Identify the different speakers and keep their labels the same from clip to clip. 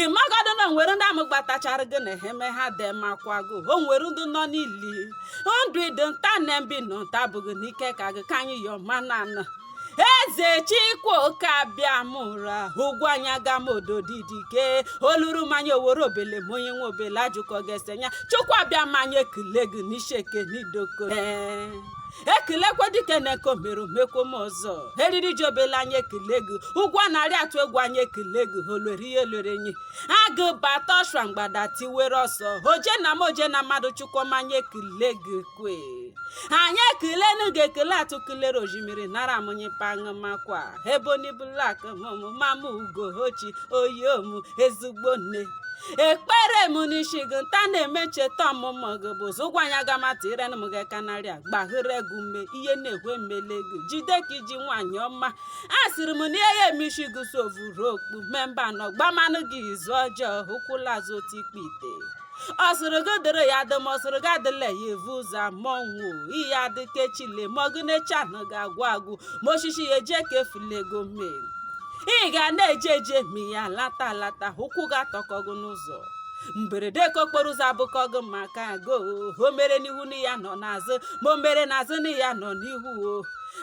Speaker 1: ị magodo na o nwere ndị amụgbatachara gị na eheme ha dị makwa gị o nwere ndị nọ n'ili ndụ ị dị nta na mbe ị nọ nta bụghị n'ike aka gị ka anyị yọọ mana anọ eze chikwoke abịama ụra ugwuanyị agama ododidike oluru mmanya owere obele ma onye nwe obele ajụkọ ga-esenya chukwu abịama anyị ekele gị n'ishi eke n'idoko ee e kelekwe dike na nke o mere o mekwoma ọzọ eriri ji obele anyị ekele gị ugwu a na-arị atụ egwu anyị ekele gị olwere ihe lwere enyi agụ bata ọshwa mgbada tiwere ọsọ oje na mmụọ oje na mmadụ chukwu ọma anyị ekele gị kwe anyị ekelenu gị ekele atụ kelere ojimiri nara amụnye paṅụmakwa ebony black mụ mama ugochi oyi omu ezigbo nne ekpere m n'isi gị nta na-eme ncheta ọmụmụ gị bụ zụ ugwuanyị agama ta ire m gị kanarịa gbaghere gị ume ihe na-ekwe mmele gị jide ka i ji nwaanyị ọma asịrị m na ihe ya eme isi gị sovuru okpu memba nọ gbamanụ gị izu ọjọọ ụkwụla azụ otu ikpe ite ọ sịrị gị dịrị ya dị ma ọ sịrị gị adịla ya evu ụzọ ma ọnwụ ị ya adị ka echile ma ọ gị na echi anụgị agwụ agwụ ma osisi ya eji eke efulego mee ị ga na-eje eje ma ya alata alata ụkwụ gị atọkọ gị n'ụzọ mberede ke okporo ụzọ abụkọ gị maka go o mere n'ihu na ị ya anọ n'azụ ma o mere n'azụ na ị ya anọ n'ihu o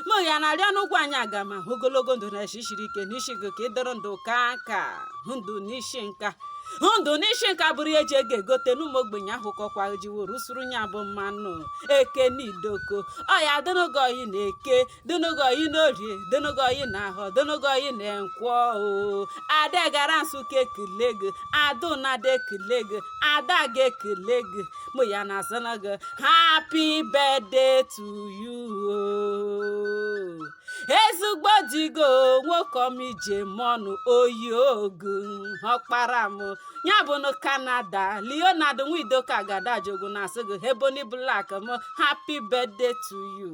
Speaker 1: mụ ya na-arịọ nụ ugwuanyị agama ogologo ndụ na eshi siri ike n'isi gị ka ị dịrị ndụ kaa nka ndụ n'isi nka ndụ n'isi nka bụrụ ihe e ji ego egote na ụmụ ogbenye ahụkọkwa jiworo usoro nya bụ mmanụ eke na idoko ọ ya adịrị gị oyi na eke dịnụ gị oyi n'orie dịnụ gị oyi na ahọ dịnụ gị oyi na nkwọ o ada gara nsụka ekele gị adụ na ada ekele gị ada ga ekele gị mụ ya na-asị nụ gị happy birthday to you o ezigbo di gị nwoke ọma ije mọnụ oyi ogu ọkpara m ya bu na canada leonard nwidoka gadajogu na-asị gị ebony black m happy birthday to you